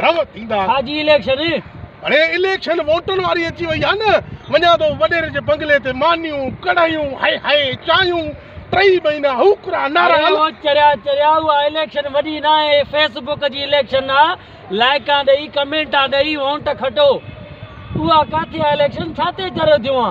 Do ٿيندا ها جي اليڪشن اڙي اليڪشن ووٽن واري اچي وئي آ نه وڃان ٿو وڏيري جي بنگلي تي مانيون ڪڙهيون هائي هائي چانهيون ٽئي مهينا هوڪرا نارا اڙي او چريا چريا اها اليڪشن وڏي ناهي هي فيس بوڪ جي اليڪشن آ لائيڪان ڏئي ڪمينٽان ڏئي وونٽ کٽو اها ڪاٿي آ اليڪشن ڇا تي چريو ٿيون آ.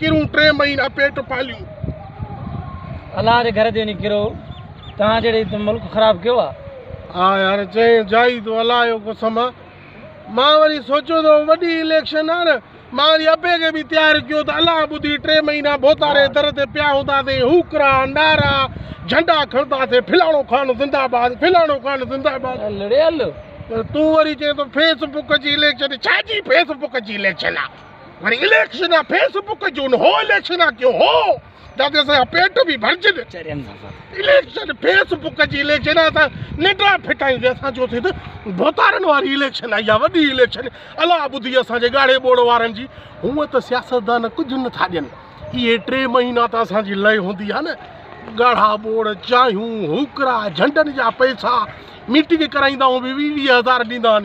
ڪرون ٽي مهينا پيٽ پاليون. الله جي گهر تي وڃي ڪرو توهان جهڙي ته ملڪ خراب ڪيو آ. ها يار چئين جائي تو الله جو قسم آ مان وري سوچيو تو وڏي اليڪشن آ نه مان وري ابي کي به تيار ڪيو ته الله ٻڌي ٽي مهينا ڀوتاري در تي پيا هونداسين هوڪرا نعرا جهنڊا کڻنداسين فلاڻو خان زنده باد فلاڻو خان زنده باد لڙيل پر تون وري چئين تو فيس بڪ جي اليڪشن ڇا جي فيس بڪ جي اليڪشن آ وري اليڪشن آ فيس بڪ جون هو اليڪشن آ ڪيو هو جاتي اسان جا پيٽ به ڀرجن اليڪشن فيس بڪ جي اليڪشن آ اسان ننڊا ڦٽائي ويا اسان جو ٿي ته ڀوتارن واري اليڪشن آ يا وڏي اليڪشن الا ٻڌي اسان جي ڳاڙهي ٻوڙ وارن جي هون ته سياستدان ڪجهه نه ٿا ڏين اهي ٽي مهينا ته اسان جي لئي هوندي آ نه ڳاڙها ٻوڙ چانهيون هوڪرا جهنڊن جا پئسا ميٽنگ ڪرائيندا هو به ويهه ويهه هزار ڏيندا آهن